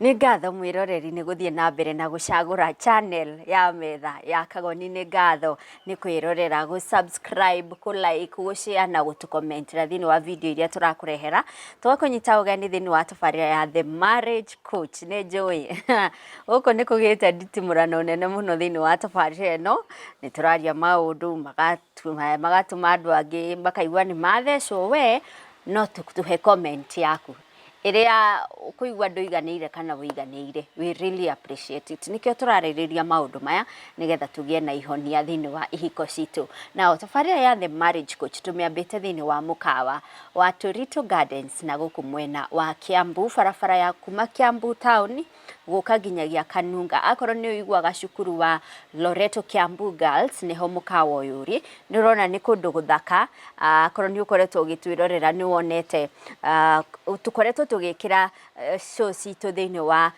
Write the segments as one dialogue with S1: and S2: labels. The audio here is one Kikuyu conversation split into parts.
S1: Nĩ ngatho mwĩroreri nĩ gũthiĩ na mbere na gũcagũra channel ya metha ya Kagoni. Nĩ ngatho nĩ kwĩrorera, gũ subscribe, kũ like, gũ share na gũtũ comment ĩra thĩinĩ wa video iria tũrakũrehera. Twakũnyita ũgeni thĩinĩ wa tabarĩra ya The Marriage Coach. Nĩ njũĩ gũkũ nĩ kũgĩte nditimũrano nene mũno thĩinĩ wa tabarĩra ĩno. Nĩ tũraria maũndũ maga magatũma andũ angĩ makaigua nĩ mathecwo we no tũhe comment yaku ĩrĩa ũkũigua ndũiganĩire kana ũiganĩire. We really appreciate it. Nĩkĩo tũrarĩrĩria maũndũ maya nĩgetha tũgĩe na ihonia thĩinĩ wa ihiko citũ. Nao tabarĩra ya The Marriage Coach tũmĩambĩte thĩinĩ wa mũkawa wa Torito Gardens na gũkũ mwena wa Kiambu, barabara ya kuma Kiambu town gũka nginyagia Kanunga. Akorwo nĩ ũiguaga cukuru wa Loreto Kiambu Girls nĩho mũkawa ũyũ ũrĩ. Nĩ ũrona nĩ kũndũ gũthaka, akorwo nĩ ũkoretwo ũgĩtwĩrorera nĩ wonete tũkoretwo tũgĩkĩra show citũ thĩinĩ wa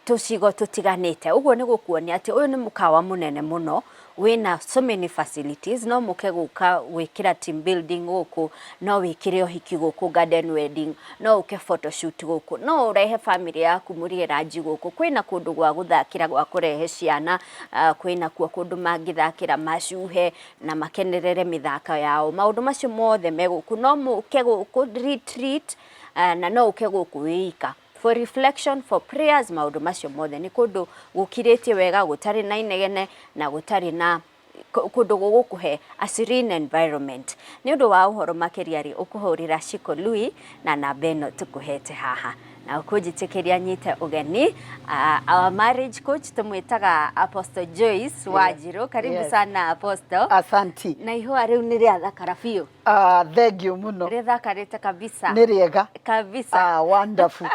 S1: tũcigo tũtiganĩte. Ũguo nĩ gũkuonia atĩ ũyũ nĩ mũkawa mũnene mũno wĩna so many facilities, no mũke gũka gwĩkĩra team building gũkũ, no wĩkĩre ũhiki gũkũ, garden wedding, no ũke photo shoot gũkũ, no ũrehe bamĩrĩ yaku mũrĩe ranji gũkũ, kwĩna kũndũ gwa gũthakĩra gwa kũrehe ciana, kwĩna kuo kũndũ mangĩthakĩra macuhe na makenerere mĩthako yao, maũndũ macio mothe me gũkũ, no mũke gũkũ re treat na no ũke gũkũ wĩ ika. For reflection, for prayers, maũndũ macio mothe nĩ kũndũ gũkirĩtie wega gũtarĩ na inegene na gũtarĩ na kũndũ gũgũkũhe a serene environment nĩ ũndũ wa ũhoro makĩria rĩ ũkũhũrĩra Shiko Lui na namba ĩno tũkũhete haha na ũkũnjĩtĩkĩria nyite ũgeni uh, our marriage coach tũmwĩtaga Apostle Joyce Wanjirũ karibu yes. sana Apostle Asanti na ihũa
S2: rĩu nĩ rĩa
S1: thakara biũ Ah, thengiũ
S2: mũno rĩthakarĩte kabisa
S1: nĩ rĩega
S2: kabisa ah,
S1: wonderful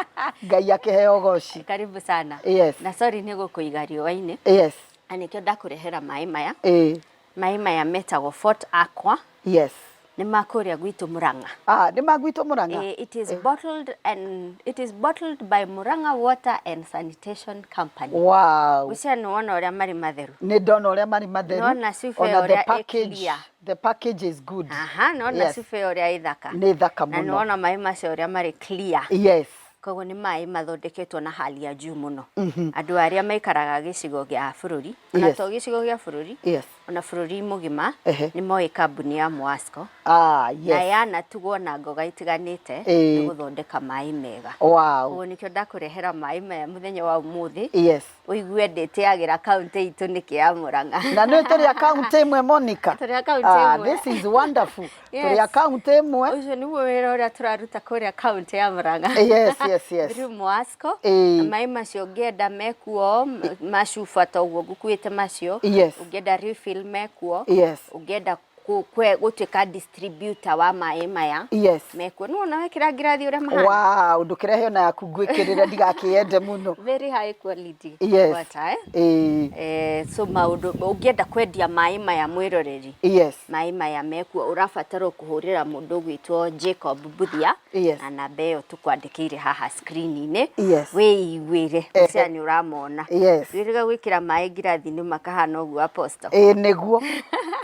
S2: ngai akĩheo goci karibu sana yes.
S1: na sorry nĩ
S2: gũkũiga
S1: riũa-inĩ yes. na nĩkĩo
S2: ndakũrehera
S1: maĩ maya eh. maĩ maya metagwo fort aqua yes
S2: nĩ ma kũrĩa
S1: gwitũ Murang'a. Ah, nĩ ma gwitũ
S2: Murang'a. Eh, it is eh. bottled and
S1: it is bottled by Murang'a Water and Sanitation Company. Wow. Usia
S2: nĩ wona ũrĩa
S1: marĩ matheru. Nĩ ndona ũrĩa marĩ
S2: matheru. Nona sibe ũrĩa
S1: ĩkiria. The package is
S2: good. Aha, na ona yes. cibe
S1: ũrĩa ithaka. Nĩ thaka mũno. Na nĩ wona
S2: maĩ macio ũrĩa
S1: marĩ clear. Yes. Koguo
S2: nĩ maĩ
S1: mathondeketwo na hali ya juu mũno. Mm -hmm. Andũ arĩa maikaraga gĩcigo gĩa bũrũri, ona yes. to gĩcigo gĩa bũrũri, yes. ona bũrũri mũgima, uh -huh. nĩ moĩ kambuni ya Mwasco. Ah, yes. Na yanatugwo na ngoga itiganĩte nĩ gũthondeka maĩ mega. Wow. Koguo nĩkĩo ndakũrehera maĩ maya mũthenya wa ũmũthĩ. Yes. ũigue ndĩtĩagĩra kaunti itũ nĩkĩ ya Murang'a. Na nĩ tũrĩ a kaunti
S2: ĩmwe Monica. Tũrĩ a kaunti ah, ĩmwe.
S1: This is wonderful.
S2: Yes. Tũrĩ a kaunti ĩmwe. Ũcio nĩguo wĩra ũrĩa
S1: tũraruta kũrĩa kaunti ya Murang'a. Eh, yes, yes, yes.
S2: Through Mwasco.
S1: Eh. Maĩ macio ũngĩenda mekuo macuba ta ũguo ngũkuĩte macio. Yes. Ũngĩenda refill mekuo. Yes. Ũngĩenda kũ- kwe- gũtuĩka distributor wa maĩ maya yes mekuo nĩ wona wekĩra ngirathi ũrĩa mahana wow ndũkĩrehe ona yaku
S2: ngwĩkĩrĩre ndigakĩyende mũno very high quality
S1: Yes. water, eh? Ĩĩ, Eh, so maũndũ ũngĩenda kwendia maĩ maya mwĩroreri yes maĩ maya mekuo ũrabatara kũhũrĩra mũndũ ũgwĩtwo Jacob Mbuthia Yes. na namba ĩyo tũkwandĩkĩire haha screen-inĩ Yes. wĩiguĩre Ehe. ũcia nĩ ũramona Yes. wĩrĩga gwĩkĩra maĩ ngirathi-inĩ makahana ũguo apostle ĩĩ nĩguo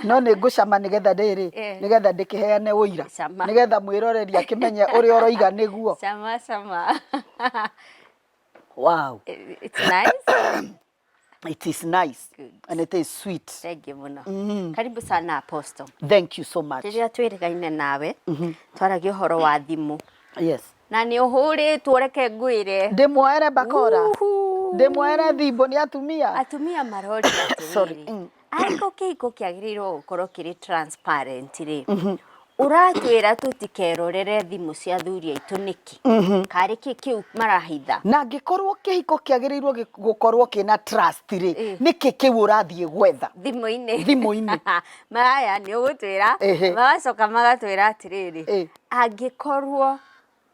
S2: no nĩ ngũcama nĩgetha rĩrĩ Eh. nĩgetha ndĩkĩheane ũira Cama. nĩgetha mwĩroreri akĩmenye ũrĩa ũroiga nĩguo cama cama wow. it's nice
S1: it is
S2: nice Good. and it is
S1: sweet
S2: thengiũ mũno Mm.
S1: karibu sana apostle thank you so much
S2: rĩrĩa twĩrĩgaine
S1: nawe twaragia ũhoro wa thimũ yes na
S2: nĩ ũhũrĩtwo
S1: reke ngwĩre ndĩmuoere bakora
S2: Uhu. ndĩmuoere thimbo nĩ atumia atumia marorira
S1: Sorry. atĩrĩrĩ Mm. ariko kĩhiko kĩagĩrĩirwo gũkorwo kĩrĩ transparent rĩ ũratwĩra tũtikerorere thimũ cia thuri aitũ nĩkĩ karĩ kĩ kĩu marahitha na angĩkorwo
S2: kĩhiko kĩagĩrĩirwo gĩ- gũkorwo kĩna trust rĩ Eh. nĩkĩ kĩu ũrathiĩ gwetha thimũ-inĩ Thimũ-inĩ. maya
S1: nĩ ũgũtwĩra Ehe. magacoka magatwĩra atĩrĩrĩ Eh. angĩkorwo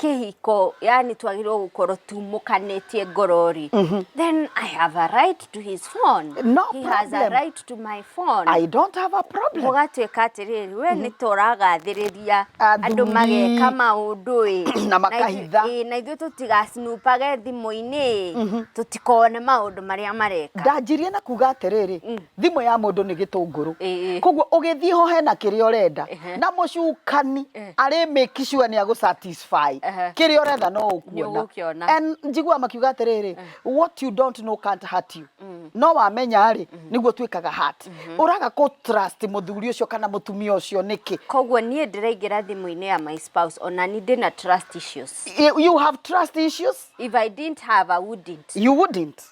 S1: kĩhiko yani twagĩrĩirwo gũkorwo tumũkanĩtie ngorori mm -hmm. then i have a right to his phone no he problem. has a
S2: right
S1: to my phone i don't have a
S2: problem ũgatuĩka atĩrĩrĩ
S1: we mm -hmm. nĩ tũragathĩrĩria andũ mageka maũndũ ĩ na makahitha
S2: na ithuĩ
S1: tũtigacinupage thimũ-inĩ mm -hmm. tũtikone maũndũ marĩa mareka ndanjirie na kuga
S2: atĩrĩrĩ mm. thimũ ya mũndũ nĩ gĩtũngũrũ koguo ũgĩthiĩ ho hena kĩrĩa ũrenda na mũcukani arĩ make sure nĩ agũ satisfy kĩrĩa ũretha no ũkuona and njiguaga makiuga atĩrĩrĩ what you don't know can't hurt you mm. no wamenya rĩ mm-hmm. nĩguo twĩkaga hurt mm-hmm. ũraga kũ trust mũthuri ũcio kana mũtumia ũcio nĩkĩ koguo niĩ ndĩraingĩra
S1: thimũ-inĩ ya my spouse ona ni ndĩna trust issues you have trust
S2: issues if i didn't have
S1: i wouldn't you wouldn't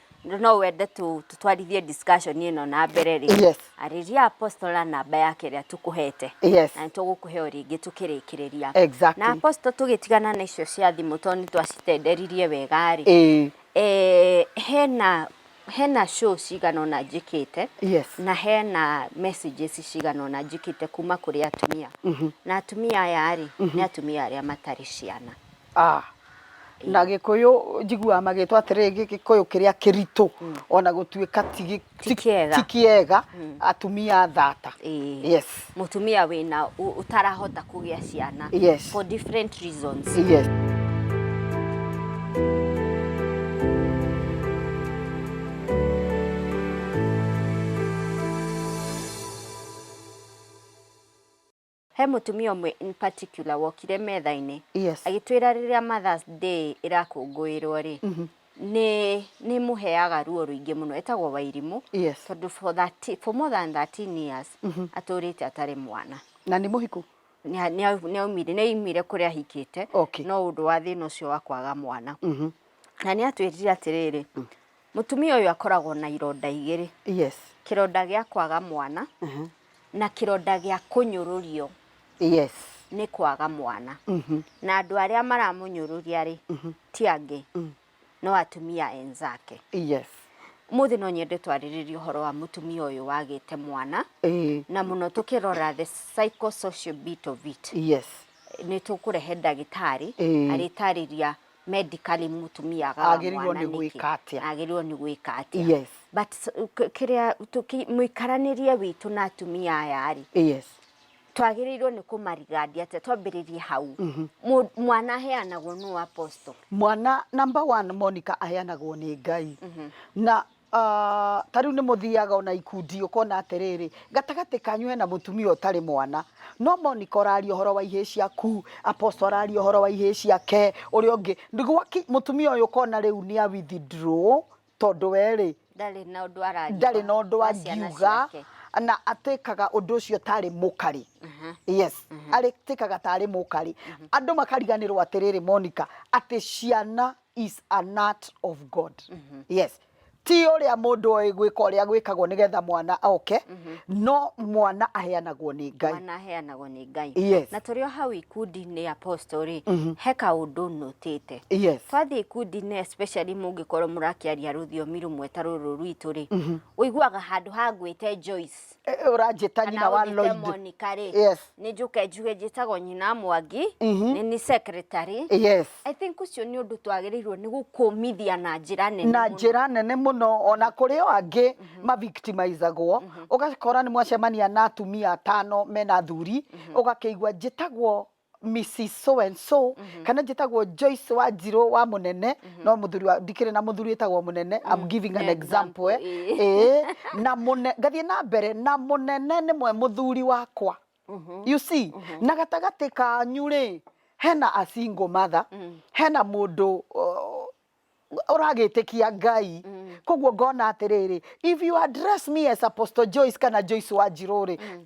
S1: no wende tu- tutwarithie discussion ĩno na mbere rĩ Yes. arĩria
S2: apostle na
S1: namba yake ĩrĩa tũkũhete Yes. na nĩtũgũkũhe
S2: o rĩngĩ
S1: tũkĩrĩkĩrĩria Exactly. na apostle
S2: tũgĩtigana
S1: na icio cia thimũ tondũ nĩtwacitenderirie wega rĩ Ĩĩ. eh, hena hena show cigana ona njĩkĩte Yes. na hena messages cigana ona njĩkĩte kuma kũrĩ atumia na atumia aya rĩ nĩ atumia arĩa matarĩ ciana Ah.
S2: na gĩkũyũ njiguaga magĩtwo atĩrĩrĩ gĩ- gĩkũyũ kĩrĩa kĩritũ ona gũtuĩka ti gĩ- Ti ti- kĩega. ti kĩega atumia thata Ĩĩ. yes mutumia wina
S1: u- utarahota kugia ciana Yes. for different
S2: reasons
S1: yes He mũtumia ũmwe in particular wokire metha-inĩ Yes. agĩtwĩra
S2: rĩrĩa Mother's
S1: Day ĩrakũngũĩrwo rĩ Mhm. nĩ nĩ mũheaga ruo rũingĩ mũno etagwo Wairimũ Yes. tondũ for,
S2: 30 for
S1: more than 13 years Mhm. atũrĩte atarĩ mwana Na nĩ mũhiku.
S2: Nĩa- nĩa- nĩaumire
S1: nĩaumire kũrĩa ahikĩte Okay. no ũndũ wa
S2: thĩna ũcio
S1: wa kwaga mwana Mhm. na nĩ atwĩrire atĩrĩrĩ Mũtumia ũyũ akoragwo na ironda igĩrĩ. Yes. Kĩronda
S2: gĩa kwaga
S1: mwana uh -huh. na kĩronda gĩa kũnyũrũrio. Yes.
S2: Nĩ kwaga
S1: mwana. Uh mhm. -huh. Na andũ arĩa maramũnyũrũria rĩ uh mhm. -huh. ti angĩ uh mhm. -huh. no atumia enzake. Yes.
S2: Mũthĩ no
S1: nyende twarĩrĩrie ũhoro wa mũtumia ũyũ wagĩte mwana e. na mũno tũkĩrora the psychosocial bit of it. Yes. Nĩ
S2: tũkũrehe
S1: ndagĩtarĩ e. arĩtarĩria e. medically mũtumia agawa Agĩrĩirwo mwana nĩ nĩkĩ? gwĩka
S2: atĩa? agĩrĩirwo nĩ gwĩka
S1: atĩa Yes. but s-
S2: k-
S1: kĩrĩa tũki- mũikaranĩrie witũ na atumia aya rĩ yes
S2: twagĩrĩirwo
S1: nĩ kũmarigandia atĩa twambĩrĩrie hau Mũ- mwana aheanagwo nũ apostle mwana number
S2: one monica aheanagwo nĩ ngai na Ah, ta rĩu nĩ mũthiaga ona ikundi ũkona atĩrĩrĩ gatagatĩ kanyu hena mũtumia ũtarĩ mwana no monika ũraria ũhoro wa ihĩĩ ciaku aposto araria ũhoro wa ihĩĩ ciake ũrĩa ũngĩ Nĩ gwaki- mũtumia ũyũ ũkona rĩu nĩ a withdraw tondũ we rĩ ndarĩ na ũndũ araria
S1: ndarĩ na ũndũ wa ciana angiuga ciake.
S2: na atĩkaga ũndũ ũcio tarĩ mũkarĩ Aha. yes arĩtĩkaga tarĩ mũkarĩ andũ makariganĩrwo atĩrĩrĩ monika atĩ ciana is an art of god yes ti å rä a må ndå oä gwä ka å rä a gwä kagwo nä getha mwana oke no mwana aheanagwo nä ngai mwana aheanagwo nĩ
S1: ngai Yes. na tũrĩ o hau
S2: ikundi-inĩ
S1: apostorĩ he kaũndũ nũtĩte yes twathiĩ
S2: ikundi-inĩ
S1: especially mũngĩkorwo mũrakĩaria rũthiomi rũmwe ta rũrũ rwitũ-rĩ ũiguaga handũ ha ngwĩte Joyce Eh, ũranjĩta nyina
S2: kana wa ũnjĩte Lloyd Monica rĩ Yes.
S1: nĩ njũke njuge njĩtagwo nyina mwangi nĩ nĩ secretary yes I think
S2: ũcio nĩ
S1: ũndũ twagĩrĩirwo nĩ gũkũmithia na njĩra nene na mũno. njĩra nene mũno
S2: ona kũrĩ o angĩ mavictimizagwo ũgakora nĩ mwacemania na atumia atano mena athuri ũgakĩigua njĩtagwo Mrs so and so mm -hmm. kana njĩtagwo Joyce wa Njirũ wa Mũnene mm -hmm. no mũthuri ndikĩrĩ na mũthuri wĩtagwo Mũnene mm -hmm. I'm giving an example eh. eh na mũne ngathiĩ na mbere na Mũnene nĩ mwe mũthuri wakwa mm -hmm. you see mm -hmm. na gatagatĩ kanyu rĩ hena a single mother mm -hmm. hena mũndũ uh, ũragĩtĩkia ngai mm. koguo ngona atĩrĩrĩ if you address me as apostle joyce kana joyce wa njirũ rĩ mm.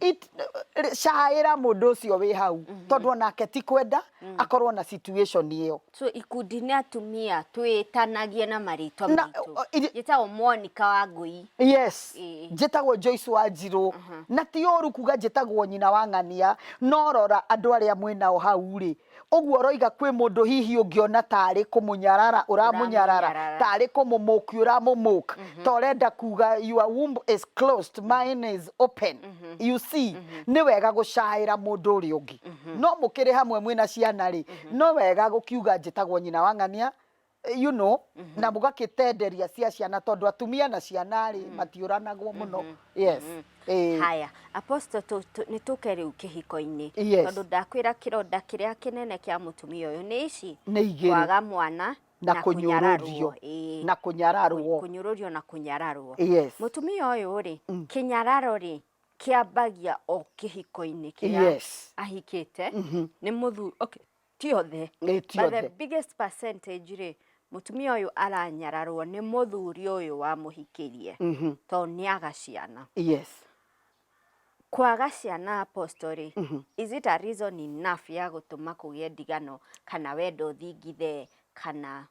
S2: caĩra mũndũ ũcio wĩ hau mm -hmm. tondũ onake ti kwenda mm. akorwo na situation ĩyo so ikundi nĩ
S1: atumia twĩtanagie na marĩtwa maitũ njĩtagwo monica wa ngũi yes e.
S2: njĩtagwo joyce wa njirũ uh -huh. na ti ũru kuga njĩtagwo nyina wa ng'ania no rora andũ arĩa mwĩnao hau rĩ Ũguo ũroiga kwĩ mũndũ hihi ũngĩona tarĩ kũmũnyarara ũramũnyarara, Ũramũnyarara. tarĩ kũmũmũki ũramũmũk, ta ũrenda kuga your womb is closed, mine is open. You see, nĩ wega gũcaĩra mũndũ ũrĩa ũngĩ. No mũkĩrĩ hamwe mwĩna ciana-rĩ, no wega gũkiuga njĩtagwo nyina wa ng'ania, eh, you know mm-hmm. na mũgakĩtenderia cia ciana tondũ atumia na ciana rĩ mm-hmm. matiũranagwo mũno mm-hmm. yes mm-hmm. Eh. haya
S1: apostle nĩ tũke rĩu kĩhiko-inĩ yes. tondũ ndakwĩra kĩronda kĩrĩa kĩnene kĩa mũtumia ũyũ nĩ ici nĩ igĩrĩ kwaga mwana na kunyururio
S2: na kunyararwo kunyururio na kunyararwo
S1: yes. mutumia
S2: uyu ri
S1: mm. kinyararo ri kiambagia o kihiko-ini kiria yes. ahikite mm -hmm. ni muthu okay ti othe Ĩ, ti But the othe. biggest percentage rĩ mũtumia ũyũ aranyararwo nĩ mũthuri ũyũ wamũhikĩrie Mhm. tondũ nĩ aga ciana yes kwaga ciana apostle rĩ is it a reason enough ya gũtũma kũgĩe ndigano kana wendo ũthingithe kana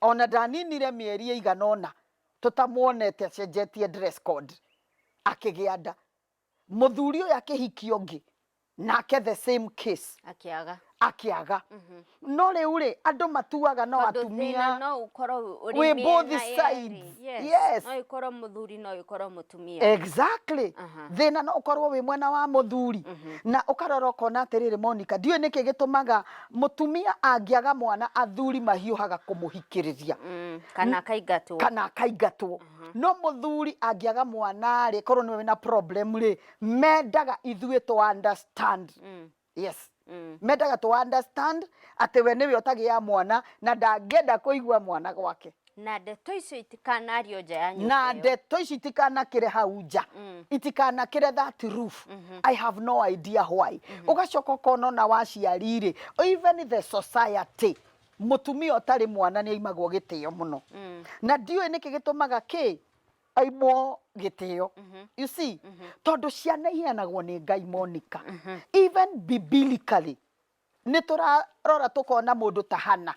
S2: Ona ndaninire mĩeri ĩigana ũna tũtamuonete acenjetie dress code akĩgĩa nda. Mũthuri ũyũ akĩhikia ũngĩ nake the same case akĩaga akĩaga no rĩu rĩ andũ matuaga no Tondũ atumia thĩna no ũkorwo
S1: ũrĩ wĩ mĩena both yerĩ.
S2: sides. Yes. Yes. no ĩkorwo mũthuri
S1: no ĩkorwo mũtumia exactly Aha.
S2: thina no ukorwo wi mwena wa muthuri na ukarora ukona atiriri monica ndiwe niki gitumaga Mũtumia angĩaga mwana athuri mahiũhaga kũmũhikĩrĩria Mm, kana akaingatwo kana akaingatwo no mũthuri angĩaga mwana rĩ korwo nĩwe wĩna problem rĩ mendaga ithuĩ to understand Mm, yes mm. mendaga to understand atĩ we nĩwe ũtagĩa mwana na ndangĩenda kũigua mwana gwake na ndeto icio
S1: itikanario nja ya nyũmba na ĩyo. ndeto ici
S2: itikanakĩre hau nja Mm. itikanakĩre that roof i have no idea why ũgacoka ũkona ona waciari-rĩ even the society mũtumia ũtarĩ mwana nĩ aimagwo gĩtĩo mũno Mm. na ndiũĩ nĩkĩ gĩtũmaga kĩ aimwo gĩtĩo you see tondũ ciana iheanagwo nĩ ngai monika even biblically Nĩ tũrarora tũkona mũndũ ta Hana.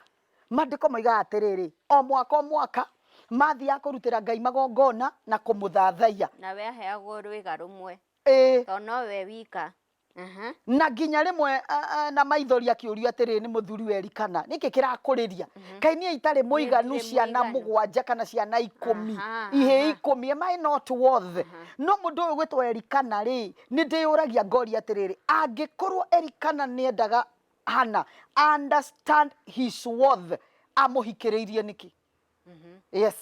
S2: Maandĩko moigaga atĩrĩrĩ, O mwaka o mwaka, maathiaga kũrutĩra Ngai magongona na kũmũthathaiya. Nawe aheagwo
S1: rwĩga rũmwe. Ĩĩ. Tondũ no we wika. Aha. Na
S2: nginya rĩmwe a, a, na maithori akĩũrio atĩrĩrĩ nĩ mũthuriwe Elikana, Nĩkĩ kĩrakũrĩria? Kaĩ niĩ itarĩ mũiganu Nĩndirĩ ciana mũiganu. mũgwanja kana ciana ikũmi, Aha, ihĩĩ aha. ikũmi? Am I not worth? No mũndũ ũyũ ũgwĩtwo Elikana-rĩ, Nĩ ndĩyũragia ngoria atĩrĩrĩ, angĩkorũo Elikana nĩ endaga Hana a understand his worth, amũhikĩrĩirie nĩkĩ? Yes.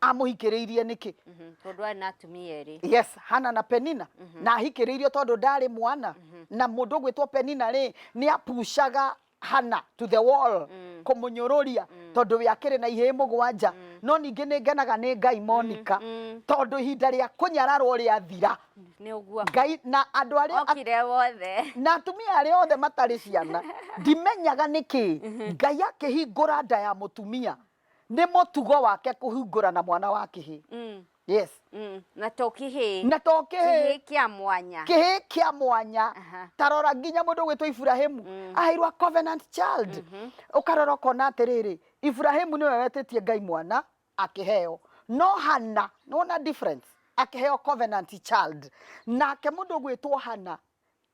S2: Amũhikĩrĩirie nĩkĩ? Mhm. Tondũ arĩ na
S1: atumia erĩ. Yes, Hana na
S2: Penina. Na ahikĩrĩirio tondũ ndarĩ mwana. Na mũndũ ũgwĩtwo Penina rĩ, nĩ apucaga hana to the wall mm. kumunyururia mm. tondu we akiri na ihe mugwanja mm. no ningi ni ngenaga ni ngai mm, monika mm. mm. tondu ihinda ria kunyararwo ria thira ni uguo ngai
S1: na andu ari
S2: okire wothe
S1: na atumia ari
S2: othe matari ciana ndimenyaga niki mhm. ngai akihingura nda ya mutumia Nĩ mũtugo wake kũhingũra na mwana wa kĩhĩ. Mm. Yes. Mm. Na to
S1: kĩhĩ. Na to kĩhĩ. Kĩhĩ kĩa mwanya. Kĩhĩ
S2: kĩa mwanya. Uh -huh. Tarora nginya mũndũ gwĩtwo Ibrahimu. Mm. Aheirwa covenant child. Mm -hmm. Ũkarora ũkona atĩrĩrĩ, Ibrahimu nĩwe wetĩtie Ngai mwana akĩheo. No Hana, nĩwona difference? Akĩheo covenant child. Nake mũndũ gwĩtwo Hana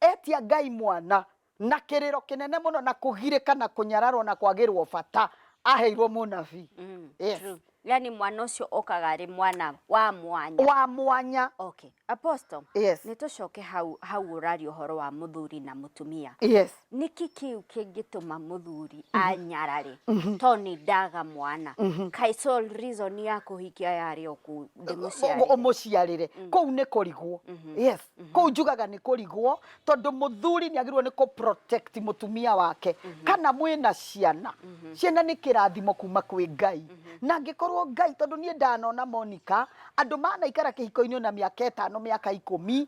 S2: Etia Ngai mwana na kĩrĩro kĩnene mũno na kũgirĩka na kũnyararwo na kwagĩrwo bata aheirwo mũnabii. Mm, Yes.
S1: true. yani mwana ũcio okaga arĩ mwana wa mwanya Wa mwanya. okay apostle Yes. nĩ tũcoke
S2: hau
S1: hau ũraria ũhoro wa mũthuri na mũtumia Yes. nĩkĩ
S2: kĩu
S1: kĩngĩtũma mũthuri anyarare to nĩ ndaga mwana kaĩ sole reason ya kũhikia yarĩ o kũ- ndĩmũciarĩre. ũmũciarĩre
S2: kũu nĩ kũrigwo yes kũu njugaga nĩ kũrigwo tondũ mũthuri nĩ agĩrĩirwo nĩ kũ protect mũtumia wake kana mwĩna ciana ciana nĩ kĩrathimo kuma kwĩ ngai na angĩkorwo ngai tondũ niĩ ndanona monika andũ manaikara kĩhiko-inĩ ona mĩaka ĩtano mĩaka ikũmi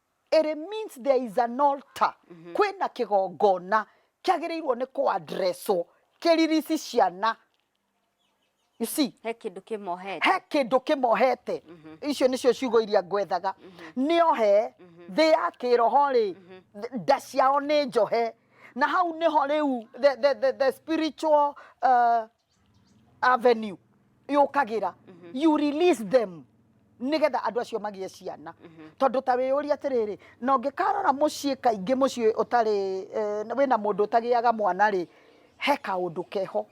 S2: Ĩrĩ means there is an altar. Kwĩna kĩgongona kĩagĩrĩirwo nĩ kũ addresswo kĩririci ciana. You see? He kĩndũ kĩmohete.
S1: he kĩndũ kĩmohete
S2: icio nĩcio ciugo iria ngwethaga nĩohe thĩ ya kĩroho-rĩ th- nda ciao nĩ njohe na hau nĩho rĩu the, the, the, the spiritual uh, avenue yũkagĩra you release them nĩgetha andũ acio magĩe ciana tondũ ta wĩyũria atĩrĩrĩ na ũngĩkarora mũciĩ kaingĩ mũciĩ ũtarĩ eh, wĩna mũndũ ũtagĩaga mwana rĩ he kaũndũ keho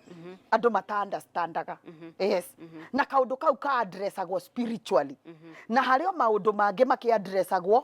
S2: andũ mataandastandaga yes na kaũndũ kau kaandresagwo spiritually na harĩ o maũndũ mangĩ makĩandresagwo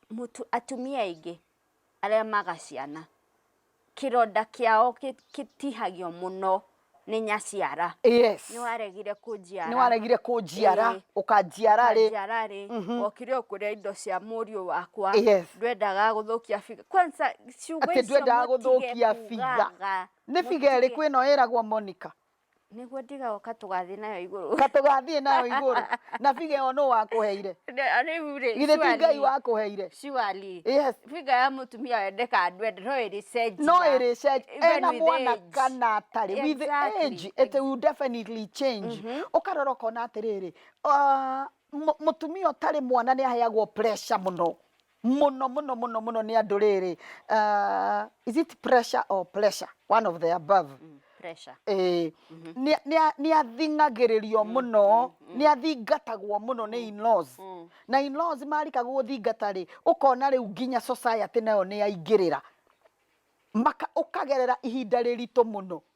S1: mũtu, atumia aingĩ arĩa maga ciana, kĩronda kĩao kĩtihagio mũno nĩ nyaciara. Yes. Nĩ waregire kũnjiara. Nĩ waregire
S2: kũnjiara, ũkanjiara rĩ. Ũkanjiara rĩ, okire ũkũrĩa
S1: indo cia mũriũ wakwa.
S2: Yes.
S1: Ndwendaga gũthũkia biga. Kwanza
S2: ciugo icio mũtige kugaga. Nĩ biga ĩrĩkũ ĩno ĩragwo Monica? Nĩguo
S1: ndigaoka tũgathiĩ nayo igũrũ. Ta tũgathiĩ nayo igũrũ.
S2: Na figa ĩyo nũ wakũheire? Rĩu rĩ. Githĩ ti Ngai wakũheire? Surely. Yes.
S1: Figa ya
S2: mũtumia
S1: wende kana ndwende no ĩrĩcenjia. No ĩrĩcenjia.
S2: Ena mwana kana atarĩ. With age it will definitely change. Ũkarora ũkona atĩrĩrĩ, mũtumia ũtarĩ mwana nĩ aheagwo pressure mũno. mũno mũno mũno mũno nĩ andũ rĩrĩ uh, is it pressure or pressure one of the above mm, pressure eh
S1: nĩ-
S2: nĩ a- nĩ athingagĩrĩrio mũno nĩ athingatagwo mũno nĩ in-laws na in-laws marika gũthingata rĩ ũkona rĩu nginya society nayo nĩ yaingĩrĩra maka ũkagerera ihinda rĩritũ mũno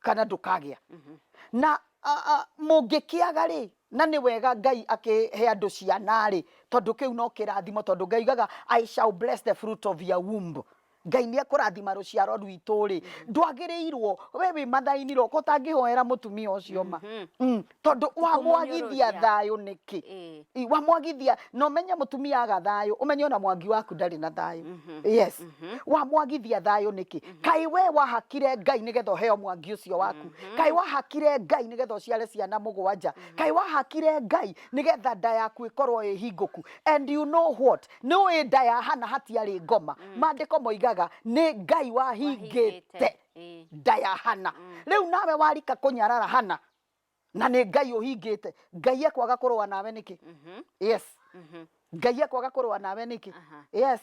S1: kana ndũkagĩa na mũngĩkĩaga-rĩ na nĩ wega Ngai akĩhe andũ ciana-rĩ tondũ kĩu no kĩrathimo tondũ Ngai augaga I shall bless the fruit of your womb Ngai nĩ ekũrathima rũciaro rwitũ-rĩ ndwagĩrĩirwo we wĩ mathainĩ-rĩ ũtangĩhoera mũtumia ũcio ma mm. tondu wamwagithia thayo niki eh. wamwagithia no menye mutumia aga thayo umenye ona mwangi waku ndari na thayo mhm. yes mhm. wamwagithia thayo niki mhm. kai we wahakire ngai nigetha uheo mwangi ucio waku kai wahakire ngai nigetha uciare ciana mugwanja kai wahakire ngai nigetha nda yaku ikorwo ihinguku and you know what ni wi nda ya hana hatiari ngoma mm. mandiko moigaga ni ngai wahingite eh. nda ya hana mm. riu nawe warika kunyarara hana na nä ngai å hingä te ngai ekwaga kå rå nawe nä kä Mhm. yes Mhm. ngai ekwaga kå rå nawe nä kä Aha. yes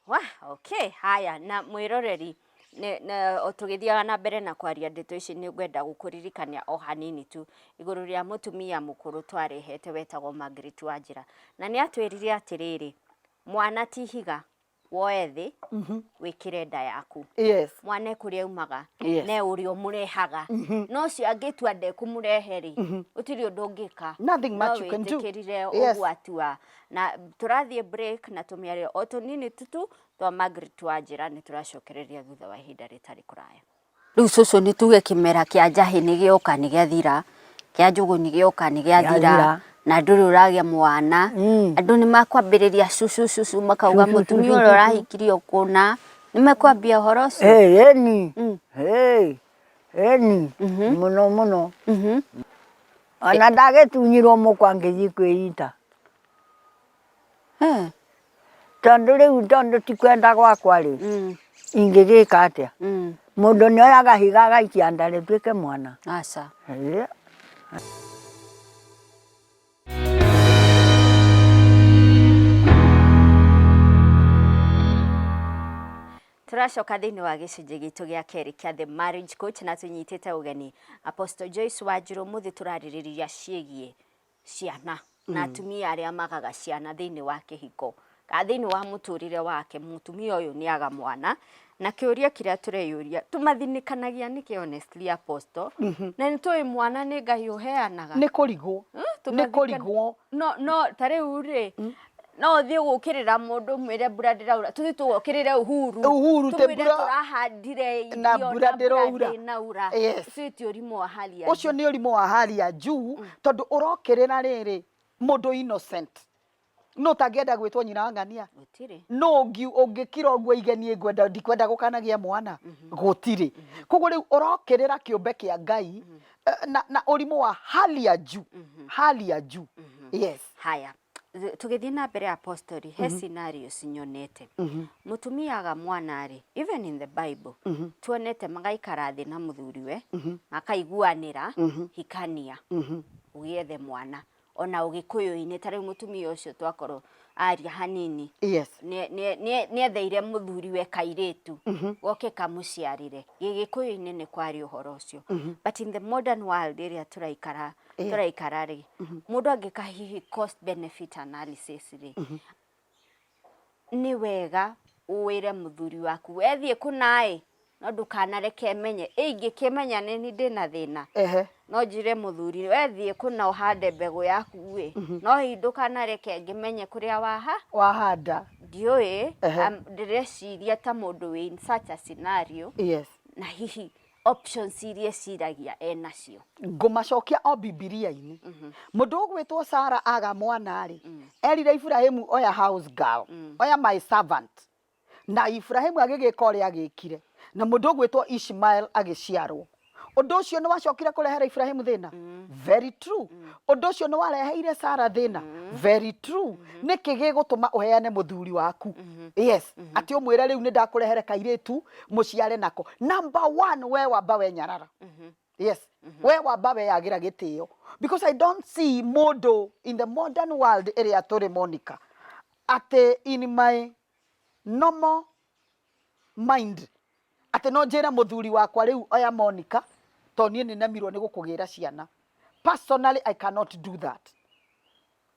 S1: Wa, okay, haya na mwĩroreri nĩ- nĩ- o tũgĩthiaga na mbere na kwaria ndeto ici nĩ ngwenda gũkũririkania o hanini tu igũrũ rĩa mũtumia mũkũrũ twarehete wetagwo Margaret Wanjĩra na nĩ atwĩrire atĩrĩrĩ mwana ti higa woe thĩ wĩkĩre nda yaku yes mwana ekũrĩa
S2: aumaga
S1: Yes. ne ũrĩa ũmũrehaga no ũcio angĩtua ndekũmũrehe rĩ gũtirĩ ũndũ ũngĩka Nothing much you can do.
S2: wĩtĩkĩrire Yes. ũguo atua
S1: na tũrathiĩ break na tũmĩario o tũnini tutu twa Margaret Wanjĩra nĩ tũracokereria thutha wa ihinda rĩtarĩ kũraya Rĩu cũcũ nĩ tuge kĩmera kĩa njahĩ nĩ gĩoka nĩ gĩathira, kĩa njũgũ nĩ gĩoka nĩ gĩathira, Gĩathira. na ndũrĩ ũragĩa mwana. Mm. Andũ nĩ makwambĩrĩria cũcũ cũcũ makauga Cũcũ, mũtumia cũcũ, ũrĩa cũcũ." ũrahikirio kũna. Nĩ makwambia ũhoro ũcio. Hey, eni. Mm.
S3: Hey, eni. Mhm. Mũno mũno. Mhm. Ona ndagĩtunyirwo mũkwa ngĩthiĩ kwĩita. Eeh tondũ rĩu tondũ ti kwenda gwakwa rĩ, ingĩgĩka atĩa? Mũndũ nĩ oyaga higa agaikia nda rĩtuĩke mwana? Aca.
S1: Tũracoka thĩinĩ wa gĩcunjĩ gitũ gĩa kerĩ kĩa The Marriage Coach na tũnyitĩte ũgeni Apostle Joyce Wanjirũ. Mũthĩ tũrarĩrĩria ciĩgiĩ ciana na atumia arĩa magaga ciana thĩinĩ wa kĩhiko kana thĩinĩ wa mũtũrĩre wake mũtumia ũyũ nĩ aga mwana na kĩũria kĩrĩa tũreyũria tũmathinĩkanagia nĩkĩ honestly apostle na nĩ tũĩ mwana nĩ ngai ũheanaga nĩ kũrigwo
S2: nĩ kũrigwo no no
S1: ta rĩu rĩ no ũthiĩ gũkĩrĩra mũndũ mwĩre mbura ndĩraura tũthiĩ tũgokĩrĩre uhuru Uhuru, tĩ tũmwĩre mbura-
S2: tũrahandire irio
S1: na mbura ndĩraura.
S2: ndĩnaura Yes. ũcio
S1: ti ũrimũ wa hali ya ũcio nĩ ũrimũ wa hali ya
S2: juu tondũ ũrokĩrĩra rĩrĩ mũndũ innocent no ũtangĩenda gwĩtwo nyina wa ng'ania gũtirĩ no ũngi- ũngĩkira ũguo igenie ngwenda ndikwenda gũkanagĩa mwana gũtirĩ koguo rĩu ũrokĩrĩra kĩũmbe kĩa ngai eh, na, na ũrimũ wa hali ya juu hali ya juu yes haya
S1: Th- tũgĩthiĩ na mbere apostori he scenarios nyonete mũtumia aga mwana rĩ even in the bible tuonete magaikara thĩ na mũthuriwe makaiguanĩra hikania ũgĩethe mwana ona ũgĩkũyũ-inĩ ta rĩu mũtumia ũcio twakorwo aria hanini yes nĩ- nĩ- nĩ- nĩetheire mũthuriwe kairĩtu goke kamũciarĩre gĩgĩkũyũ-inĩ nĩ kwarĩ ũhoro ũcio but in the modern world ĩrĩa tũraikara Eh. tũraikara rĩ mũndũ angĩka hihi cost benefit analysis rĩ nĩ wega wĩre mũthuri waku wethiĩ kũnaĩ no ndũkanareke menye ĩ ingĩkĩmenya nĩ niĩ ndĩna thĩna ehe no njire mũthuri wethiĩ kũna ũhande mbegũ yaku ĩ no hihi ndũkanareke ngĩmenye kũrĩa waha wahanda
S2: ndiũĩ Ehe.
S1: am- ndĩreciria ta mũndũ wĩ in such a scenario yes na hihi options iria ĩciragia e nacio ngũmacokia o
S2: bibilia-inĩ mhm. mũndũ ũgwĩtwo sara aga mwana-rĩ mm. erire iburahimu oya house girl mm. oya my servant na iburahimu agĩgĩka ũrĩa agĩkire na mũndũ ũgwĩtwo ishmael agĩciarwo ũndũ ũcio nĩ wacokire kũrehera iburahimu thĩna mm. very true ũndũ ũcio nĩ wareheire sara thĩna very true mm-hmm. nĩkĩ gĩgũtũma ũheane mũthuri waku mm-hmm. yes mm-hmm. atĩ ũmwĩre rĩu nĩ ndakũrehere kairĩtu mũciare nako number one we wamba we nyarara yes we wamba we yagira gĩtĩo because i don't see mũndũ in the modern world ĩrĩa tũrĩ monica atĩ in my normal mind atĩ no njĩre mũthuri wakwa rĩu oya monica to niĩ nĩ nemirwo nĩ gũkũgĩra ciana personally i cannot do that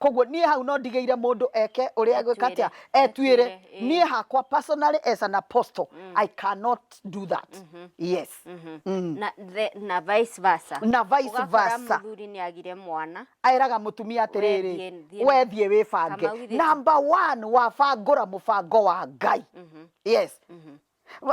S2: Koguo niĩ hau no ndigĩire mũndũ eke ũrĩa egwĩka atĩa etuĩre niĩ hakwa personally as an apostle mm. I cannot do that mm -hmm. yes mm -hmm. mm. Na,
S1: the, na vice versa na vice versa mũthuri
S2: nĩ agire
S1: mwana aeraga mũtumia
S2: atĩrĩrĩ we thiĩ wĩbange number one wabangũra mũbango wa Ngai mm -hmm. yes mm -hmm.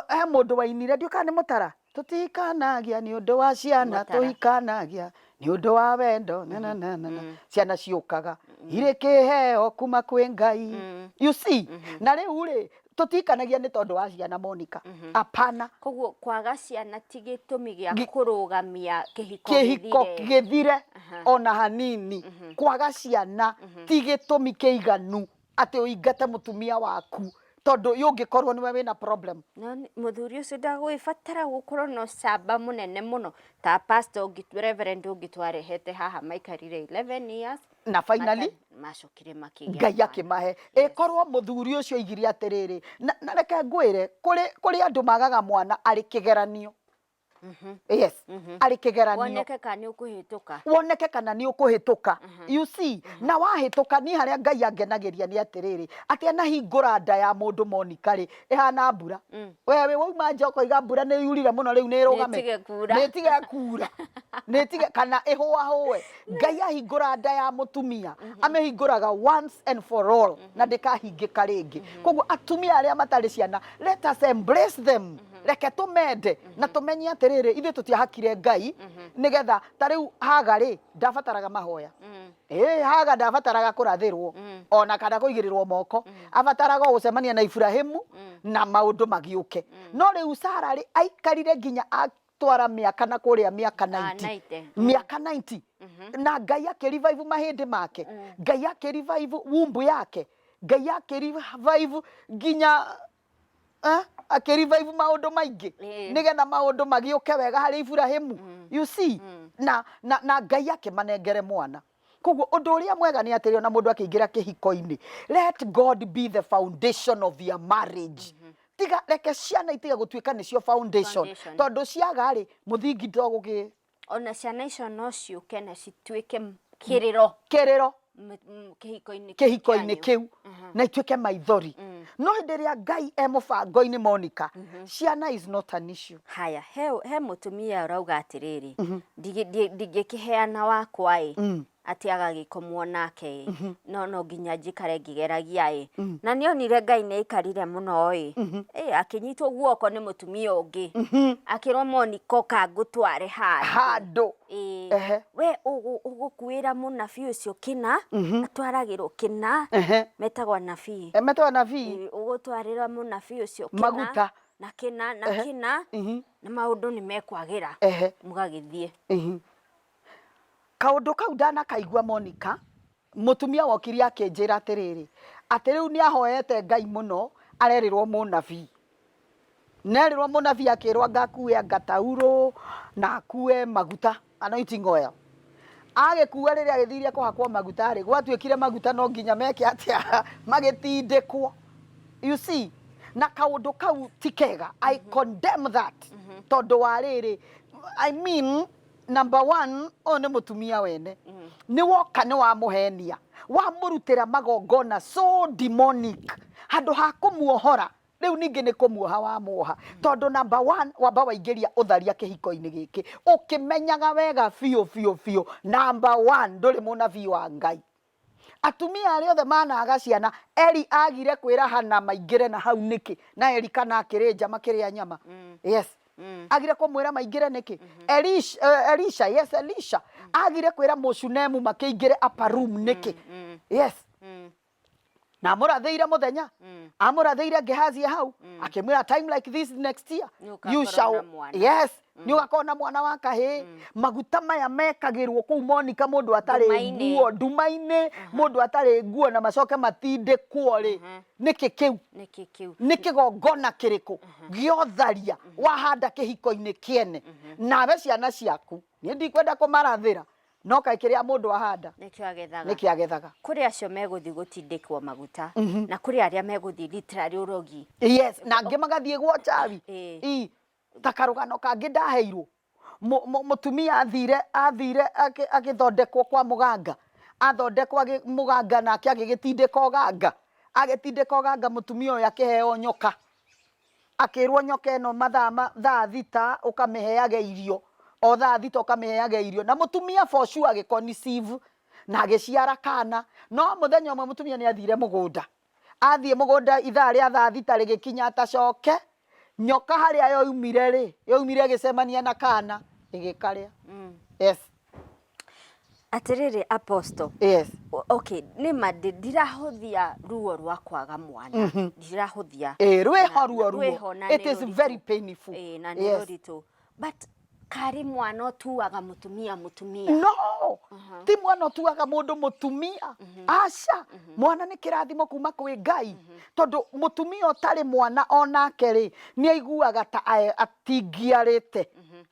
S2: He mũndũ wainire ndiũĩ kana nĩ mũtara tũtikanagia nĩ ũndũ wa ciana Mũtara. tũikanagia nĩ ũndũ wa wendo na na na na na. ciana ciũkaga irĩ kĩheo kuma kwĩ ngai you see na rĩu rĩ tũtikanagia nĩ tondũ wa ciana monika apana koguo kwaga
S1: ciana ti gĩtũmi gĩa Gi- kũrũgamia kĩhiko kĩhiko gĩthire. gĩthire
S2: Aha. ona hanini kwaga ciana ti gĩtũmi kĩiganu atĩ ũingate mũtumia waku tondũ yu ũngĩkorwo nĩwe wĩna problem No nĩ- mũthuri ũcio
S1: ndagũgĩbatara gũkorwo na ũcamba mũnene mũno ta pastor ũngĩ- reverend ũngĩ twarehete haha maikarire 11 years na finally
S2: mata- macokire makĩgĩa
S1: ngai mwana. akĩmahe
S2: ĩkorwo mũthuri ũcio aigire atĩrĩrĩ na na reke ngwĩre kũrĩ kũrĩ andũ magaga mwana arĩ kĩgeranio Mhm. yes Mhm. arĩ kĩgeranio woneke ka nĩ ũkũhĩtũka woneke kana nĩ ũkũhĩtũka Mhm. you see na wahĩtũka niĩ harĩa ngai angenagĩria nĩ atĩrĩrĩ atĩ anahingũra nda ya mũndũ monika rĩ ĩhana mbura Mm. we wĩ wauma nja ũkoiga mbura nĩ yurire mũno rĩu nĩ ĩrũgame Nĩĩtige kuura. nĩtige kuura nĩtige kana ĩhũahũe ngai ahingũra nda ya mũtumia amĩhingũraga once and for all na ndĩkahingĩka rĩngĩ koguo atumia arĩa matarĩ ciana let us embrace them reke tũmende na tũmenye atĩrĩrĩ ithuĩ tũtiahakire ngai nĩgetha ta rĩu haga rĩ ndabataraga mahoya ĩ haga ndabataraga kũrathĩrwo ona kana kũigĩrĩrwo moko abataraga o gũcemania na iburahimu na maũndũ magĩũke no rĩu sara rĩ aikarire nginya atwara mĩaka na kũrĩa mĩaka 90 mĩaka 90 na ngai akĩrivaivu mahĩndĩ make ngai akĩrivaivu wumbu yake ngai akĩrivaivu nginya eh, akĩrevive maũndũ maingĩ Eh. nĩgetha maũndũ magĩũke wega harĩ iburahimu Mm. you see Mm. na, na, na ngai akĩmanengere mwana koguo ũndũ ũrĩa mwega nĩ atĩrĩ ona mũndũ akĩingĩra kĩhiko-inĩ let god be the foundation of your marriage tiga reke ciana itige gũtuĩka nĩcio foundation Foundation. tondũ ciaga-rĩ mũthingi ndũgũgĩ ona ciana icio
S1: no ciũke na cituĩke m- kĩrĩro kĩrĩro m- m- kĩhiko-inĩ kĩu kĩhiko-inĩ kĩanyu. kĩu Aha.
S2: na ituĩke maithori Mm. no hĩndĩ ĩrĩa ngai e mũbango-inĩ monika ciana is not an issue haya he, he
S1: mũtumia ũrauga atĩrĩrĩ "Ndigi- ndi- ndingĩkĩheana wakwa-ĩ Mm. atĩ agagĩkomwo nake ĩ mhm. no no nginya njikare ngĩgeragia ĩ mhm. na nĩ onire ngai nĩ aikarire mũno ĩ mhm. akĩnyitwo guoko nĩ mũtumia ũngĩ akĩrwo moniko kangũtware handũ
S2: we
S1: ũgũkuĩra mũnabi ũcio kĩna atwaragĩrwo kĩna metagwo nabii eh, metagwo nabii ũgũtwarĩra mũnabi ũcio kĩna maguta na kĩna
S2: na
S1: kĩna na maũndũ nĩ mekwagĩra mũgagĩthiĩ
S2: Kaũndũ kau ndanakaigua Monika, mũtumia wokire akĩnjĩra atĩrĩrĩ, atĩ rĩu nĩ ahoete Ngai mũno, arerĩrwo mũnabii. Nĩ arerĩrwo mũnabii akĩrwo anga akue anga taurũ, na akue maguta, anointing oil. Agĩkua rĩrĩa agĩthire kũhakwo maguta rĩ, gwatuĩkire maguta no nginya meke atĩa? Magĩtindĩkwo. You see? Na kaũndũ kau ti kega. I condemn that. Tondũ wa rĩrĩ, I mean, number one ũyũ nĩ mũtumia wene nĩ woka nĩ wamũhenia wamũrutĩra magongona so demonic handũ ha kũmuohora rĩu ningĩ nĩ kũmuoha wamuoha tondũ number one wamba waingĩria ũtharia kĩhiko-inĩ gĩkĩ ũkĩmenyaga wega biũ biũ biũ number one ndũrĩ mũnabii wa ngai Atumia arĩa othe maanaaga ciana, Eli aagire kwĩra Hannah maingĩre na hau nĩkĩ? Na Elikana akĩrĩ nja makĩrĩa nyama. Yes. Aagire kũmwĩra maingĩre nĩkĩ? Elish, eh, Elisha, yes, Elisha. Aagire kwĩra Mũshunemu makĩingĩre upper room nĩkĩ? Yes. na amũrathĩire mũthenya Mm. amũrathĩire ngehazia hau Mm. akĩmwĩra time like this next year Nĩũgakorwo you na shall mwana." yes nĩ ũgakorwo na mwana wa kahĩĩ maguta maya mekagĩrwo kũu monika mũndũ atarĩ Nduma-inĩ. nguo nduma-inĩ mũndũ atarĩ nguo na macoke matindĩkwo rĩ Mhm. nĩkĩ kĩu nĩkĩ kĩu nĩ kĩgongona kĩrĩkũ gĩotharia wahanda kĩhiko-inĩ kĩene nawe ciana ciaku niĩ ndikwenda kũmarathĩra no kaĩ kĩrĩa mũndũ ahanda nĩkĩo agethaga nĩkĩ agethaga kũrĩ acio megũthiĩ
S1: gũtindĩkwo maguta Mhm. na kũrĩ arĩa megũthiĩ literary ũrogi yes na angĩ
S2: magathiĩ gwa njawi Ĩĩ. Ii, ta karũgano kangĩ ndaheirwo Mũ- mũ- mũtumia athire athire akĩ- agĩthondekwo kwa mũganga athondekwo agĩ- mũganga nake agĩgĩtindĩka ũganga agĩtindĩka ũganga mũtumia ũyũ akĩheo nyoka Akĩrwo nyoka ĩno mathaa ma thaa thita ũkamĩheage irio, o thaa thita ũkamĩheage irio, na mũtumia for sure agĩ conceive na agĩciara kana, no mũthenya ũmwe mũtumia nĩ athire mũgũnda, athiĩ mũgũnda ithaa rĩa thaa thita rĩgĩkinya atacoke, nyoka harĩa yoimire rĩ, yoimire ĩgĩcemania na kana ĩgĩkarĩa. Yes.
S1: Atĩrĩrĩ Apostle, Yes. o-
S2: okay, nĩ ma
S1: ndi- ndirahũthia ruo rwa kwaga mwana. Ndirahũthia. Eh, rwĩho Na- ruo ruo.
S2: rwĩho na It nĩ is rũritũ. very painful. Eh, na nĩ Yes. rũritũ.
S1: But karĩ mwana ũtuaga mũtumia mũtumia. no
S2: ti mwana ũtuaga mũndũ mũtumia aca mwana nĩ kĩrathimo kuma kwĩ ngai tondũ mũtumia ũtarĩ mwana onake rĩ nĩ aiguaga ta ae- atingiarĩte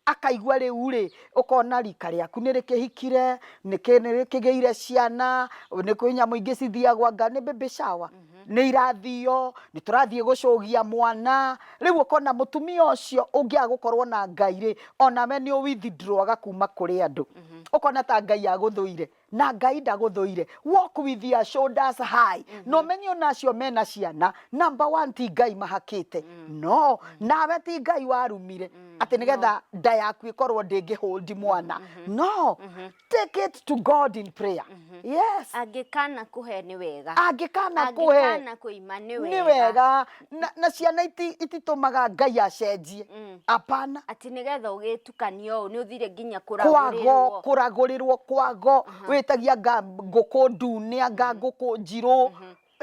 S2: akaigua rĩu rĩ ũkona rika rĩaku nĩ rĩkĩhikire nĩ kĩ- nĩ rĩkĩgĩire ciana nĩ kwĩ nyamũ ingĩ cithiagwo anga nĩ baby shower nĩ irathio nĩ tũrathiĩ gũcũgia mwana rĩu ũkona mũtumia ũcio ũngĩaga gũkorwo na ngai rĩ onawe nĩ ũ withdrawaga kuma kũrĩ andũ ũkona ta ngai agũthũire na ngai ndagũthũire walk with your shoulders high mm -hmm. na ũmenye ona acio mena ciana number one ti ngai mahakĩte mm. no nawe ti ngai warumire mm. atĩ nĩgetha no. nda yaku ĩkorwo ndĩngĩhũndi mwana mm -hmm. no mm -hmm. take it to god in prayer mm -hmm. yes angĩkana
S1: kũhe nĩ wega angĩkana kũhe
S2: angĩkana kũima nĩ wega
S1: nĩ wega
S2: na, na ciana iti, ititũmaga ngai acenjie Mm. apana ati nigetha
S1: ugitukania uu ni uthire nginya kwago kuragurirwo kuragurirwo
S2: kwago witagia nga ngũkũ ndune anga ngũkũ njirũ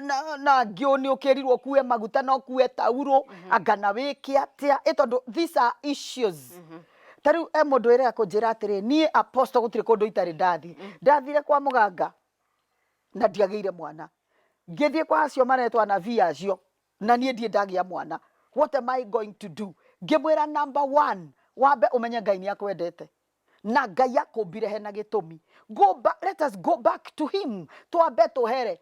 S2: na na angĩ ũ nĩ ũkĩrirwo kue maguta no kue taurũ anga na wĩke atĩa ĩ tondũ these are issues ta rĩu e mũndũ wĩrega kũnjĩra atĩrĩ niĩ apostle gũtirĩ kũndũ itarĩ ndathiĩ ndathire kwa mũganga na ndiagĩire mwana ngĩthiĩ kwa acio maretwa anabii acio na niĩ ndiĩ ndagĩa mwana what am I going to do ngĩmwĩra number one wambe ũmenye ngai nĩ akwendete na ngai akũmbire hena gĩtũmi go back, let us go back to him twambe tũhere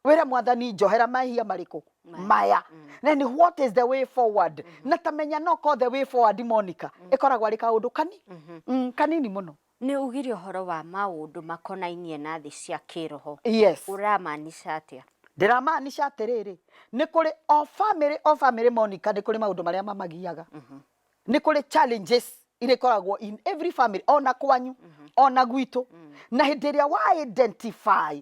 S2: wĩra mwathani njohera mahia marĩkũ maya then what is the way forward na tamenya noko the way forward monica ĩkoragwo arĩ kaũndũ kani mm, kanini mũno Nĩ ugire ũhoro
S1: wa maũndũ makonainie na thĩ cia kĩĩroho. Yes. Ũramaanisha
S2: atĩa?
S1: Ndĩramaanisha
S2: atĩrĩrĩ, nĩ kũrĩ o family o family Monica nĩ kũrĩ maũndũ marĩa mamagiaga. Nĩ kũrĩ challenges iria ikoragwo in every family, ona kwanyu, ona gwitũ. Na hĩndĩ ĩrĩa wa identify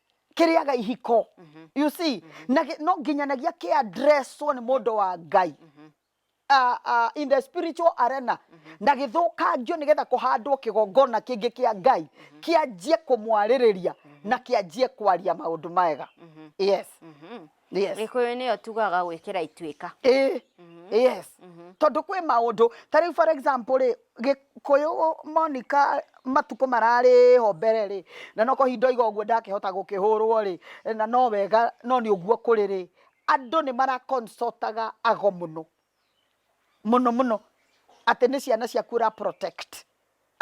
S2: kĩrĩaga ihiko you see na gĩ- no nginyanagia kĩ addresswo nĩ mũndũ wa ngai uh, uh, in the spiritual arena na gĩthũkangio nĩgetha kũhandwo kĩgongona kĩngĩ kĩa ngai kĩanjie kũmwarĩrĩria na kĩanjie kwaria maũndũ mega yes Mhm. yes gikuyu niyo tugaga
S1: gwikira ituika eh
S2: yes tondu kwĩ maũndũ ta rĩu for example rĩ gĩkũyũ monika matukũ mararĩ ho mbere rĩ na no kahinda oiga ũguo ndakĩhota gũkĩhũrwo rĩ na no wega no nĩ ũguo kũrĩ rĩ andũ nĩ maraconsultaga ago mũno mũno mũno atĩ nĩ ciana ciaku ũra protect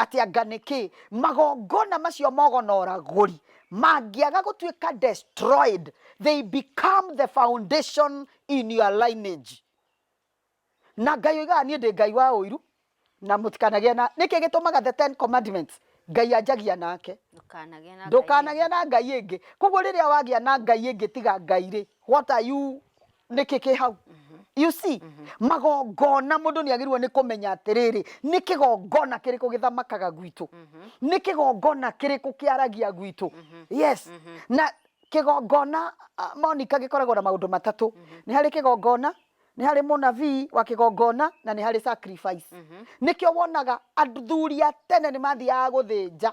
S2: Atĩ anga nĩ kĩ magongona macio mogonoragũri mangĩaga gũtuĩka destroyed, they become the foundation in your lineage. Na Ngai oigaga niĩ ndĩ Ngai wa ũiru na mũtikanagĩa na, nĩkĩ gĩtũmaga the ten commandments Ngai anjagia nake, Ndũkanagĩa na Ngai ndũkanagĩa ĩngĩ. na Ngai ĩngĩ. Koguo rĩrĩa wagĩa na Ngai ĩngĩ tiga Ngai rĩ, what are you nĩkĩ kĩ hau you see magongona mũndũ nĩ agĩrĩirwo nĩ kũmenya atĩrĩrĩ nĩ kĩgongona kĩrĩkũ gĩthamakaga gwitũ nĩ kĩgongona kĩrĩkũ kĩaragia gwitũ yes na kĩgongona ah, monika gĩkoragwo na maũndũ matatũ nĩ harĩ kĩgongona nĩ harĩ mũnabii wa kĩgongona na nĩ harĩ sacrifice nĩkĩo wonaga athuri a tene nĩ mathiaga gũthĩnja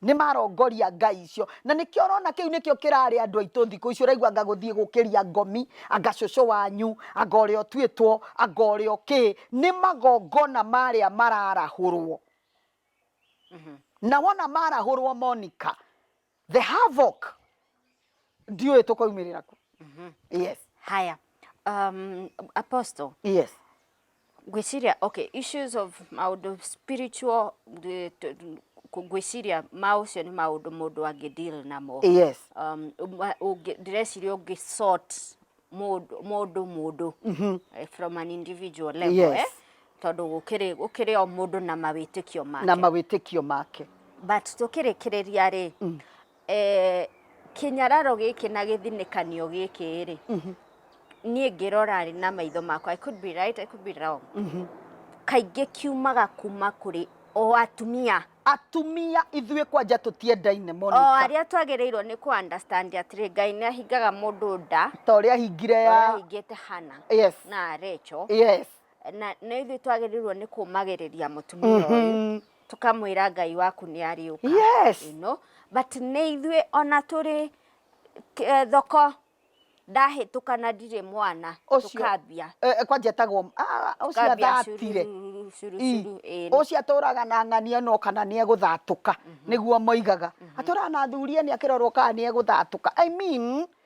S2: Nĩ marongoria ngai icio. Na nĩkĩo ũrona kĩu nĩkĩo kĩrarĩ andũ aitũ thikũ ici, ũraigua anga gũthiĩ gũkĩria ngomi, anga cũcũ wanyu, anga ũrĩa ũtuĩtwo, anga ũrĩa ũkĩ. Nĩ magongona marĩa mararahũrwo. Na wona marahũrwo Monica, the havoc! ndiũĩ tũkoimĩrĩra ku mhm. yes haya
S1: um, apostle yes
S2: ngwĩciria
S1: okay issues of maũndũ spiritual ngwĩciria ma ũcio nĩ maũndũ mũndũ angĩ deal namo yes
S2: um,
S1: ndĩreciria ũngĩ sort mũndũ mũndũ mm-hmm. eh, from an individual level yes. eh? tondũ
S2: gũkĩrĩ
S1: gũkĩrĩ o mũndũ na mawĩtĩkio make na mawĩtĩkio make but
S2: tũkĩrĩkĩrĩria rĩ
S1: mm. Eh, kĩnyararo gĩkĩ na gĩthinĩkanio gĩkĩ rĩ mhm. niĩ ngĩrora rĩ na maitho makwa I could be right, I could be wrong mhm. kaingĩ kiumaga kuma kũrĩ o atumia atumia ithuĩ kwanja tũtiendaine Monica. O arĩa twagĩrĩirwo nĩ kũ understand atĩrĩ Ngai nĩ ahingaga mũndũ nda ta ũrĩa ahingire ya
S2: ahingĩte Hana
S1: yes. na Recho yes. na
S2: nĩ ithuĩ
S1: twagĩrĩirwo nĩ kũmagĩrĩria mũtumia ũyũ mm -hmm. tũkamwĩra ngai waku nĩ ariũka Yes. you know?
S2: but
S1: nĩ ithuĩ ona tũrĩ eh, thoko ndahĩtũka na
S2: ndirĩ mwana
S1: Ũcio-
S2: tũkambia
S1: Eh, eh, kwanja
S2: etagwo ah,
S1: ũcio Tũkambia
S2: athatire
S1: curururu, cururu, ĩĩ, nĩ- ũcio
S2: atũraga na ng'ania no kana nĩ egũthatũka nĩguo moigaga atũraga na athuri nĩ akĩrorwo kana nĩ egũthatũka i mean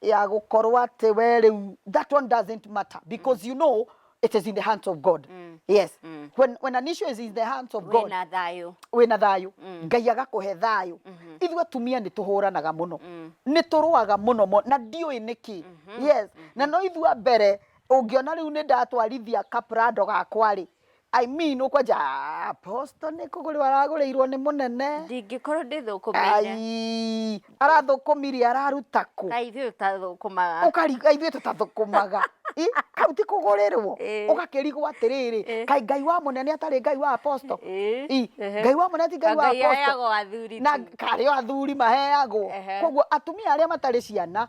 S2: ya gũkorwo atĩ we rĩu that one doesn't matter because you know it is in the hands of god yes when, when an issue is in the hands of god wĩna thayũ wĩna thayũ ngai agakũhe thayũ ithuĩ atumia nĩ tũhũranaga mũno nĩ tũrũaga mũno mo- na ndiũĩ nĩkĩ yes na no ithuĩ a mbere ũngĩona rĩu nĩ ndatwarithia kaprado gakwa-rĩ I mean ũkwanja apostle nĩ kũgũrĩrwo aragũrĩirwo nĩ mũnene ndingĩkorwo
S1: ndĩthũkũmĩire Ai, arathũkũmirie
S2: araruta kũ kaĩ ithuĩ tũtathũkũmaga
S1: ũkariga ithuĩ
S2: tũtathũkũmaga Ĩ, kau ti kũgũrĩrwo Ĩ. ũgakĩrigwo atĩrĩrĩ Ĩ. kaĩ ngai wa mũnene atarĩ ngai wa apostle Ĩ, Ĩ, ehe. ngai wa mũnene ti ngai wa Ngai apostle ayagwo athuri na tu. karĩ o athuri maheagwo Ehe. koguo atumia arĩa matarĩ ciana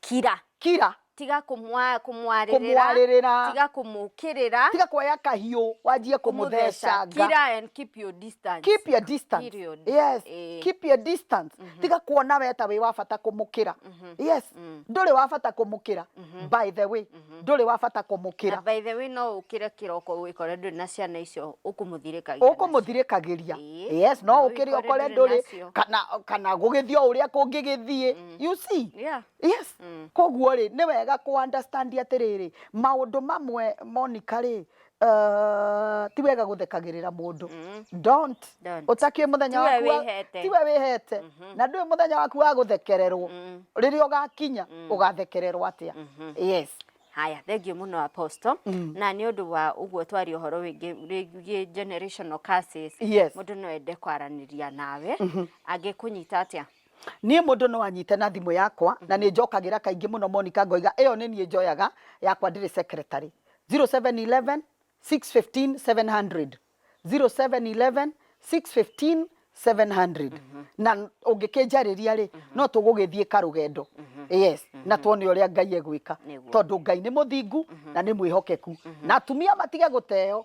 S1: Kira. Kira. Tiga kũmwa- kũmwarĩrĩra Kũmwarĩrĩra. tiga kũmũkĩrĩra Tiga kuoya kahiũ
S2: wanjie kũmũthecanga. Kira and keep
S1: your distance. Keep your distance.
S2: Period. Yes. Eh. Keep your distance. Tiga kuona we ta wĩ wa bata kũmũkĩra. Yes. Ndũrĩ wa bata kũmũkĩra. By the way. ndũrĩ wa bata kũmũkĩra na by the way no ũkĩre
S1: kĩroko wĩkore ndũrĩ na ciana icio ũkũmũthirĩkagia ũkũmũthirĩkagĩria
S2: yes no ũkĩre ũkore ndũrĩ kana kana gũgĩthiĩ o ũrĩa kũngĩgĩthiĩ mm. you see yeah. yes mm. koguo rĩ nĩ wega kũ understand atĩrĩrĩ maũndũ mamwe monika rĩ Uh, ti wega guthekagirira mundu mm. don't Don't. utakie muthenya Tiwe waku wa- wĩhete. tiwe wihete Mhm. na ndui muthenya waku wa guthekererwo Mm. riria ugakinya ugathekererwo atia Mhm. yes haya thengio
S1: muno apostle Mm. na nĩ ũndũ wa ũguo twari ũhoro wĩngĩ wĩgiĩ generational curses yes mũndũ no ende kwaranĩria nawe angĩkũnyita atĩa Niĩ mũndũ no
S2: anyite na thimũ yakwa na nĩ njokagĩra kaingĩ mũno Monica ngoiga ĩyo nĩ niĩ njoyaga yakwa ndĩrĩ secretary. 0711 615 700, 0711 615 700 na ũngĩkĩnjarĩria rĩ no tũgũgĩthiĩ karũgendo yes na tuone ũrĩa Ngai egwĩka Nĩguo. tondũ Ngai nĩ mũthingu na nĩ mwĩhokeku na atumia matige gũteo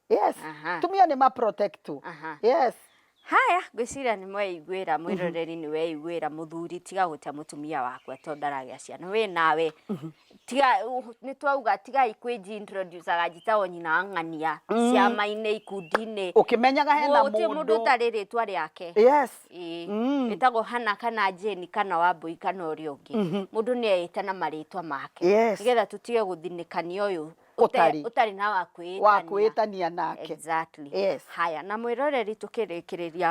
S2: yes Aha. tumia nĩ ma protect tu Aha. yes haya
S1: ngwĩciria nĩ mweiguĩra mwĩroreri nĩ weiguĩra mũthuri tiga gũte mũtumia wakwa tondũ ndaragĩa ciana wĩ nawe tiga nĩ twauga tigai kwĩnjintroducaga njitagwo nyina wa ng'ania ciama-inĩ ikundi-inĩ ũkĩmenyaga hena
S2: gũtirĩ mũndũ mũndũ ũtarĩ rĩtwa
S1: rĩake yes Ĩĩ.
S2: Mm. ĩtagwo
S1: hana kana jeni kana wambũi kana ũrĩa ũngĩ mũndũ nĩ eĩta na marĩtwa make Yes. nĩgetha tũtige gũthinĩkania ũyũ ũtari ũtarĩ na wa kwĩĩtania wa kwĩĩtania nake exactly yes.
S2: haya na mwĩroreri
S1: tũkĩrĩkĩrĩria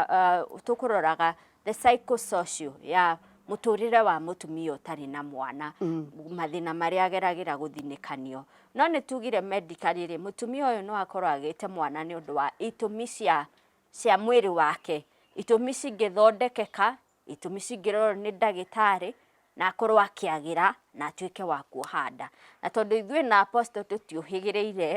S1: uh, tũkũroraga the psychosocial ya mũtũrĩre wa mũtumia ũtarĩ na mwana mm. mathĩna marĩa ageragĩra gũthinĩkanio no nĩ tugire medical rĩ mũtumia ũyũ no akorwo agĩte mwana nĩ ũndũ wa itũmi cia cia mwĩrĩ wake itũmi cingĩthondekeka itũmi cingĩrorwo nĩ ndagĩtarĩ na akorwo akĩagĩra na atuĩke wa kuoha nda. Na tondũ ithuĩ na Apostle tũtiũhĩgĩrĩire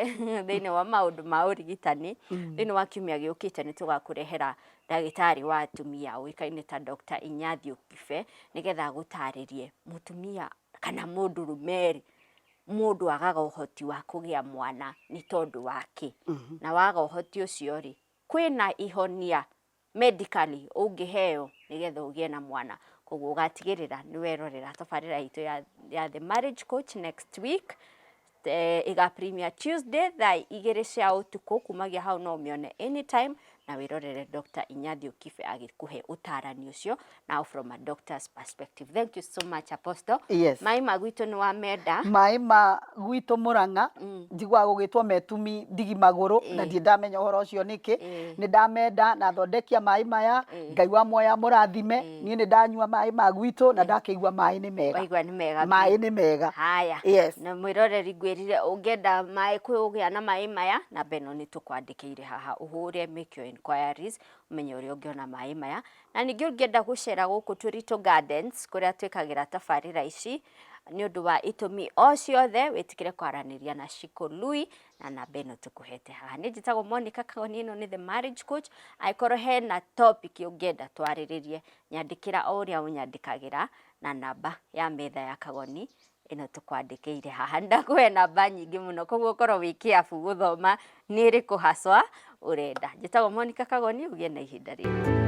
S1: thĩinĩ wa maũndũ ma ũrigitani, mm. thĩinĩ wa kiumia gĩũkĩte nĩ tũgakũrehera ndagĩtarĩ wa atumia ũĩkaine ta Dr. Inyathi Ũkibe nĩgetha agũtarĩrie mũtumia kana mũndũ rũmeri mũndũ agaga ũhoti wa kũgĩa mwana nĩ tondũ wake. Mm -hmm. Na waga ũhoti ũcio rĩ, kwĩna ihonia medically ũngĩheo nĩgetha ũgĩe na mwana. Koguo ũgatigĩrĩra nĩ werorera tabarĩra itũ ya ya The Marriage Coach next week, ĩga premiere Tuesday thaa igĩrĩ cia ũtukũ, kumagia hau no ũmĩone anytime, na wĩrorere Doctor Inyathiũ Kibe agĩkũhe ũtarani ũcio, now from a doctor's perspective thank you so much apostle Yes. maĩ ma gwitũ
S2: nĩ wa
S1: menda maĩ ma
S2: gwitũ mũrang'a njiguaga gũgĩtwo metumi ndigi magũrũ na ndiĩ ndamenya ũhoro ũcio nĩkĩ nĩ ndamenda na thondekia maĩ maya ngai wa muoya mũrathime niĩ nĩ ndanyua maĩ ma gwitũ na ndakĩigua maĩ nĩ mega waigua nĩ mega maĩ nĩ
S1: mega
S2: haya Yes. na
S1: mwĩroreri
S2: ngwĩrire
S1: ũngĩenda maĩ kũgĩa na maĩ maya namba ĩno nĩ tũkwandĩkĩire haha ũhũre make your inquiries ũmenye ũrĩa ũngĩona maĩ maya Na ningĩ ũngĩenda gũcera gũkũ Tũritũ Gardens kũrĩa twĩkagĩra tabarĩra ici, nĩ ũndũ wa itũmi o ciothe, wĩtĩkĩre kwaranĩria na Ciko Lui na namba ĩno tũkũhete haha. Niĩ njĩtagwo Monica Kagoni, ĩno nĩ The Marriage Coach. Angĩkorwo hena topic ũngĩenda twarĩrĩrie, nyandĩkĩra o ũrĩa ũnyandĩkagĩra na namba ya metha ya Kagoni ĩno tũkwandĩkĩire haha. Nĩ ndakũhe namba nyingĩ mũno, koguo ũkorwo wĩ careful gũthoma nĩ ĩrĩkũ haswa ũrenda. Njĩtagwo Monica Kagoni, ũgĩe na ihinda rĩega.